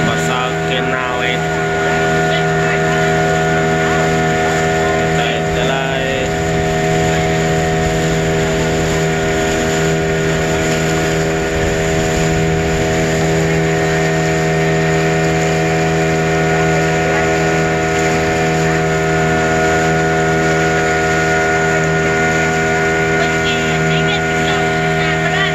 Pasal kanal eh. Utai jalai.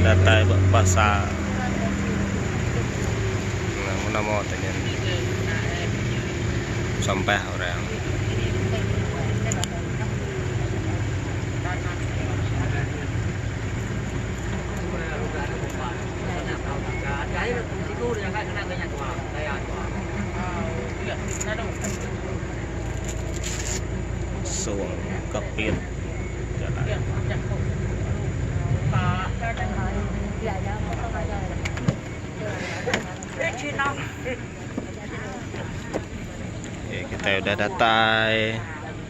datai ba pasar nama-nama tu nyen sampah orang Sung Kepit Jalai. Kitai udah datai.